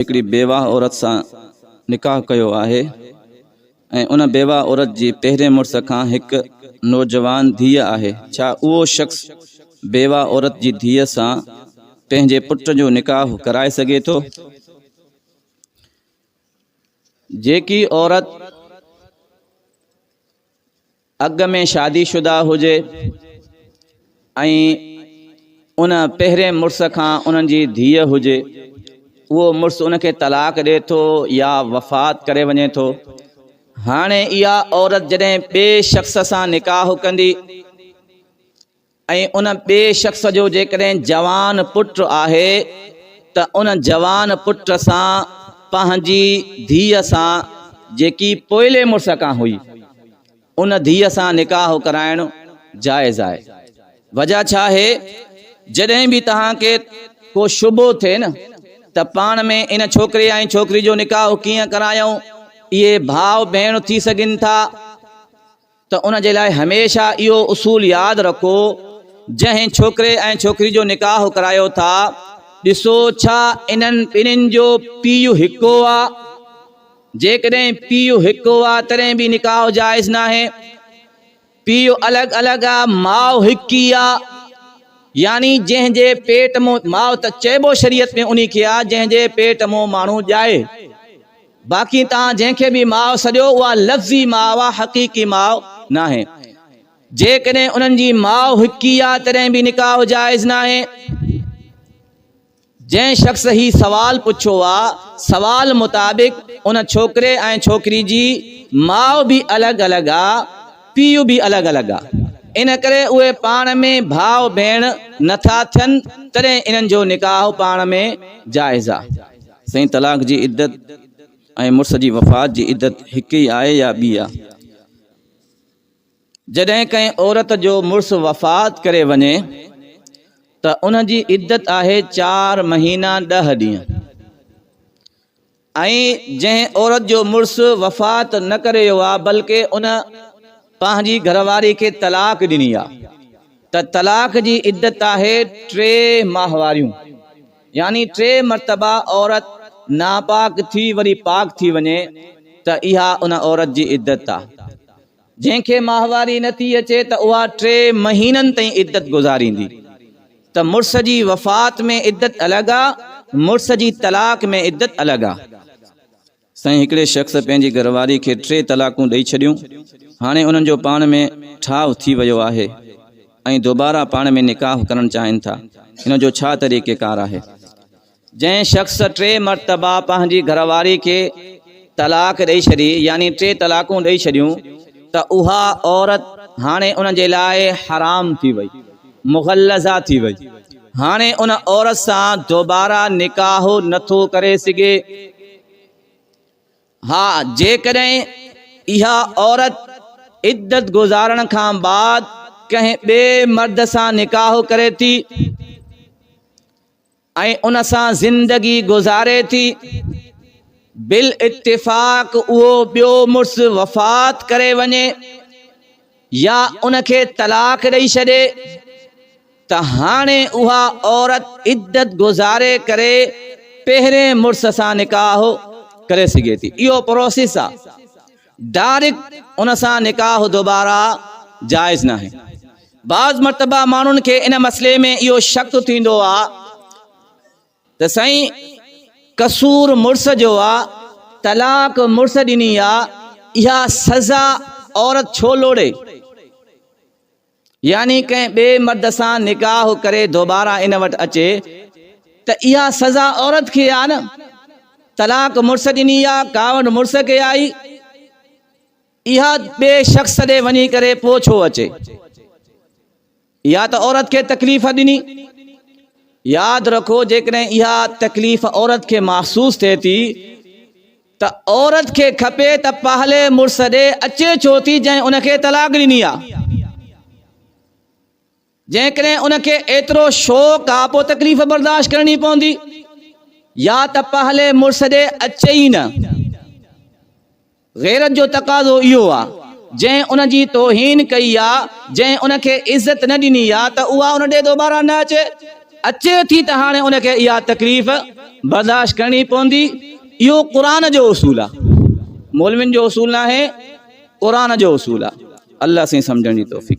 هڪڙي بيواهه عورت سان نڪاح ڪيو آهي ۽ ان بيواهه عورت جي پهرين مڙس کان هڪ نوجوان ڌيء آهي، ڇا اهو شخص بيواهه عورت جي ڌيء سان پنهنجي پٽ جو نڪاح ڪرائي سگهي ٿو؟ جيڪي عورت اڳ ۾ شادي شده هجي ۽ ان پهرين مڙس کان انهن جي ڌيء هجي، اهو مڙس ان کي طلاق ڏئي ٿو يا وفات ڪري وڃي ٿو. هاڻي اها عورت جڏهن ٻئي شخص سان نڪاح ڪندي ۽ ان ٻئي شخص جو جيڪڏهن جوان پٽ آهي ته ان جوان پٽ سان پنهنجي ڌيء سان جيڪي پوئلي مڙس کان هئي ان ڌيء سان نڪاح ڪرائڻ جائز آهي. وجه ڇا آهي؟ جڏهن به توهان کي ڪو شبهو ٿئي نه ته پاڻ ۾ ان ڇوڪري ۽ ڇوڪري جو نڪاح ڪيئن ڪرايائون؟ اهي ڀاء ڀيڻ ٿي سگهن ٿا. ته ان جي لاء هميشه اهو اصول ياد رکو جنهن ڇوڪري ۽ ڇوڪري جو نڪاح ڪرايو ٿا ڏسو ڇا انهن ٻنهين جو پيء هڪو آ؟ جيڪڏهن پيء هڪو آ تڏهن به نڪاح جائز ناهي. پيء الڳ الڳ آ ماء هڪ ئي آ يعني جنهن جي پيٽ مون ماء ته چئبو شريعت ۾ انهي کي آ جنهن جي پيٽ مون ماڻهو ڄائي. باقي توهان جنهن کي به ماء سڏيو اها لفظي ماء آهي حقيقي ماء ناهي. جيڪڏهن انهن جي ماء هڪ ئي آهي تڏهن به نڪاح جائز ناهي. جنهن شخص هي سوال پڇيو آهي سوال مطابق ان ڇوڪري ۽ ڇوڪري جي ماء به الڳ الڳ آهي پيء به الڳ الڳ آهي ان ڪري اهي پاڻ ۾ ڀاء ڀيڻ نه ٿا ٿين تڏهن انهن جو نڪاح پاڻ ۾ جائز آهي. سائين طلاق جي عدت ۽ مڙس جي وفات جي عدت هڪ ئي آهي يا ٻي آهي؟ جڏهن ڪنهن عورت جو مڙس وفات ڪري وڃي ته ان جي عدت آهي چار مهينا ڏهه ڏينهن ۽ جنهن عورت جو مڙس وفات نه ڪري ويو آهي بلڪه ان پنهنجي گهر واري کي طلاق ڏني آهي ته طلاق جي عدت آهي ٽي ماهواريون. يعني ٽي مرتبا عورت ناپاڪ ٿي وري پاڪ ٿي وڃي ته اها ان عورت جي عدت آ. جنهن کي ماهواري نه ٿي اچي ته اها ٽي مهينن تائين عدت گذاريندي ته مڙس جي وفات ۾ عدت الڳ آ مڙس جي طلاق ۾ عدت الڳ آ. سائين هڪڙي شخص پنهنجي گهرواري کي ٽي طلاقون ڏئي ڇڏيون هاڻي انهن جو پاڻ ۾ ٺاهه ٿي ويو آهي ۽ دوباره پاڻ ۾ نڪاح ڪرڻ چاهين ٿا ان جو ڇا طريقي ڪار آهي. جنهن شخص ٽي مرتبه پنهنجي گهرواري کي طلاق ڏئي ڇڏي يعني ٽي طلاقون ڏئي ڇڏيون ته اها عورت هاڻي ان جي لاء حرام ٿي وئي. مغلظه ٿي وئي. هاڻي ان عورت سان دوباره نڪاح نه ٿو ڪري سگهي. ها جيڪڏهن اها عورت عدت گذارڻ کان بعد ڪنهن ٻئي مرد سان نڪاح ڪري ٿي. ۽ ان سان زندگي گذاري ٿي. بالاتفاق اهو ٻيو مڙس وفات ڪري وڃي يا ان کي طلاق ڏئي ڇڏي ته هاڻي اها عورت عدت گذاري ڪري پهرين مڙس سان نڪاح ڪري سگهي ٿي. اهو پروسيس آهي. ڊاريڪ ان سان نڪاح دوباره جائز ناهي بعض مرتبه ماڻهن کي ان مسئلي ۾ اهو شڪ ٿيندو آ ته سائين قصور مڙس جو آ طلاق مڙس ڏني آ اها سزا عورت ڇو لوڙي يعني ڪنهن ٻئي مرد سان نڪاح ڪري دوباره ان وٽ اچي ته اها سزا عورت کي آهي نه؟ طلاق مڙس ڏني يا ڪاوڙ مڙس کي آئي اها ٻئي شخص ڏي وڃي ڪري پوء ڇو اچي؟ يا ته عورت کي تڪليف ڏني ياد رکو جيڪڏهن اها تڪليف عورت کي محسوس ٿئي ٿي ته عورت کي کپي ته پهلي مڙس ڏي اچي ڇو ٿي جنهن ان کي طلاق ڏني آ جيڪڏهن ان کي ايترو شوق آ پو تڪليف برداشت ڪرڻي پوندي يا ته پهلي مڙس ڏي اچي ئي نه غيرت جو تقاضو اهو آ جنهن ان جي توهين ڪئي آ جنهن ان کي عزت نه ڏني آ ته اها ان ڏي دوباره نه اچي اچي ٿي ته هاڻي ان کي اها تڪليف برداشت ڪرڻي پوندي اهو قرآن جو اصول آ مولوين جو اصول ناهي قرآن جو اصول آ الله سائين سمجهڻ جي توفيق